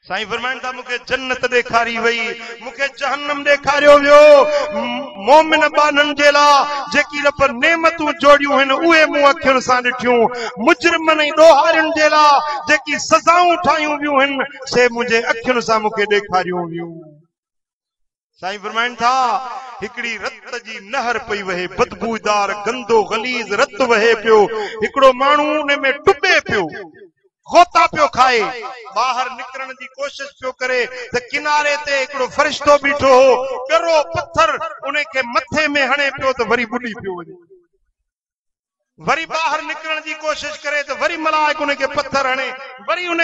سائين فرمائن ٿا مون کي جنت ڏيکاري وئي مون کي جهنم ڏيکاريو ويو مومن ٻانهن جي لا جيڪي رب نعمتون جوڙيون هن اهي مون اکين سان ڏٺيون مجرمن ۽ ڏوهارين جي لا جيڪي سزائون ٺاهيون ويون هن سي منهنجي اکين سان مون کي ڏيکاريون ويون سائين فرمائن ٿا هڪڙي رت جي نهر پئي وهي بدبودار گندو غليظ رت وهي پيو هڪڙو ماڻهو ان ۾ ٽٻي پيو غوطا پيو کائي ٻاهر نڪرڻ جي ڪوشش پيو ڪري ته ڪناري تي هڪڙو فرشتو بيٺو هو ڳرو پٿر ان کي مٿي ۾ هڻي پيو ته وري ٻڏي پيو وڃي وري ٻاهر نڪرڻ جي ڪوشش ڪري ته وري ملائڪ ان کي پٿر هڻي وري ان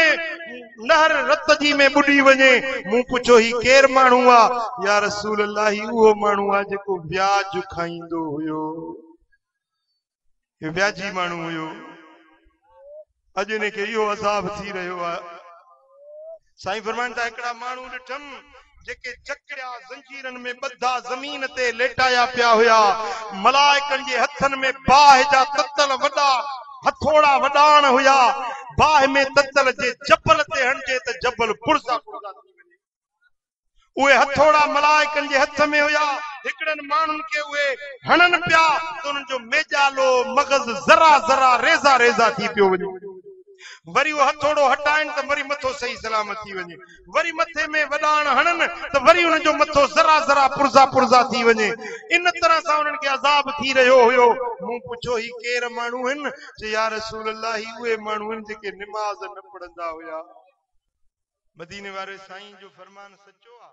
نهر رت جي ۾ ٻڏي وڃي مون پڇيو هي ڪير ماڻهو آ يا رسول الله هي اهو ماڻهو آ جيڪو وياج کائيندو هيو هي وياجي ماڻهو هيو اڄ انهن کي اهو عذاب ٿي رهيو آهي. سائين فرمائن ٿا هڪڙا ماڻهو ڏٺم جيڪي جڪڙيا زنجيرن ۾ ٻڌا زمين تي ليٽايا پيا هيا. ملائڪن جي هٿن ۾ باهه جا تتل وڏا هٿوڙا وڏاڻ هيا. باهه ۾ تتل جي جبل تي هڻجي ته جبل پرزا پرزا ٿي وڃي. اهي هٿوڙا ملائڪن جي هٿ ۾ هيا. هڪڙن ماڻهن کي اهي هڻن پيا ته انهن جو ميڄالو، مغز، ذرا ذرا، ريزا ريزا ٿي پيو وڃي. وري اهو هٿوڙو هٽائين ته وري مٿو صحيح سلامت ٿي وڃي. وري مٿي ۾ وڏاڻ هڻن ته وري انهن جو مٿو ذرا ذرا، پرزا پرزا ٿي وڃي. ان طرح سان انهن کي عذاب ٿي رهيو هيو. مون پڇيو، هي ڪير ماڻهو هن؟ چيو، يا رسول الله! هي اهي ماڻهو هن جيڪي نماز نه پڙهندا هيا. مديني واري سائين جو فرمان سچو آ.